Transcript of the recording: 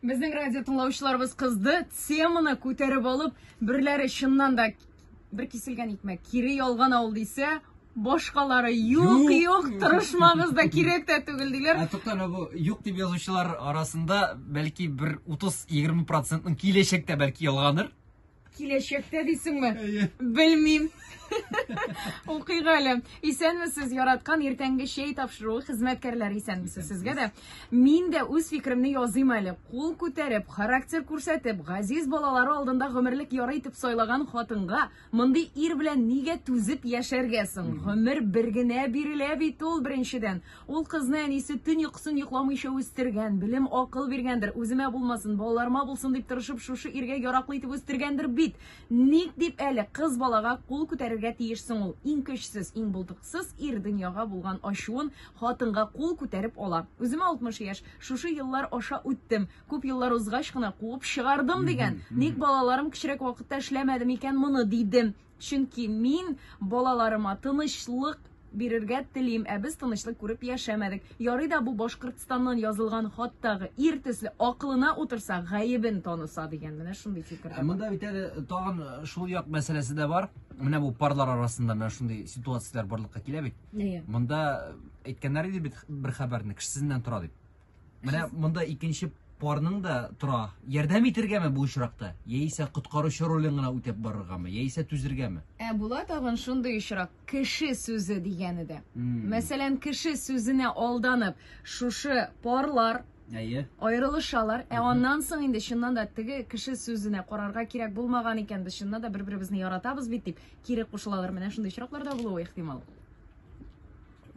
Безнең радио тыңлаучыларыбыз кызды, теманы күтәреп алып, берләре чыннан да бер киселгән икмәк, кире ялган авыл дисә, башкалары юк, юк, тырышмагыз да кирәк тә түгел диләр. Ә тукта, бу юк дип язучылар арасында бәлки бер 30-20 процентның киләчәктә бәлки ялганыр. Киләчәктә дисеңме? Әйе. Белмим. Укыйк әле. Исәнмесез, яраткан иртәнге чәй тапшыру хезмәткәрләре исәнмесез сезгә дә. Мин дә үз фикеремне языйм әле. Кул күтәреп, характер күрсәтеп, газиз балалары алдында гомерлек яры итеп сайлаган хатынга мондый ир белән нигә түзеп яшәргә соң? Гомер бер генә бирелә бит ул беренчедән. Ул кызны әнисе төн йокысын йокламыйча үстергән, белем, акыл биргәндер, үземә булмасын, балаларыма булсын дип тырышып, шушы иргә яраклы итеп үстергәндер бит. Ник дип әле кыз балага кул күтәрергә тиеш соң ул? Иң көчсез, иң булдыксыз ир дөньяга булган ачуын хатынга кул күтәреп ала. Үземә 60 яшь, шушы еллар аша үттем. Күп еллар узгач кына куып чыгардым дигән. Ник балаларым кечерәк вакытта эшләмәде микән моны, дидем. Чөнки мин балаларыма тынычлык бирергә телим, ә без тынычлык күреп яшәмәдек. Ярый да бу Башкортстаннан язылган хаттагы ир төсле акылына утырса, гаебен таныса дигән менә шундый фикер. Ә монда бит әле тагын э, шул як мәсьәләсе дә бар. Менә бу парлар арасында менә шундый ситуацияләр барлыкка килә бит. Әйе. Монда э, әйткәннәр иде бит бер хәбәрне, кеше сезнен тора дип. Менә монда икенче парның да тора. Ярдәм итергәме бу очракта? Яисә коткаручы ролен гына үтәп барыргамы? Яисә түзергәме? Ә була тагын шундый очрак, кеше сүзе дигәне дә. Мәсәлән, кеше сүзенә алданып, шушы парлар Әйе. Аерылышалар. Ә аннан соң инде чыннан да теге кеше сүзенә карарга кирәк булмаган икән, без чыннан да бер-беребезне яратабыз бит дип кире кушылалар. Менә шундый очраклар да булуы ихтимал.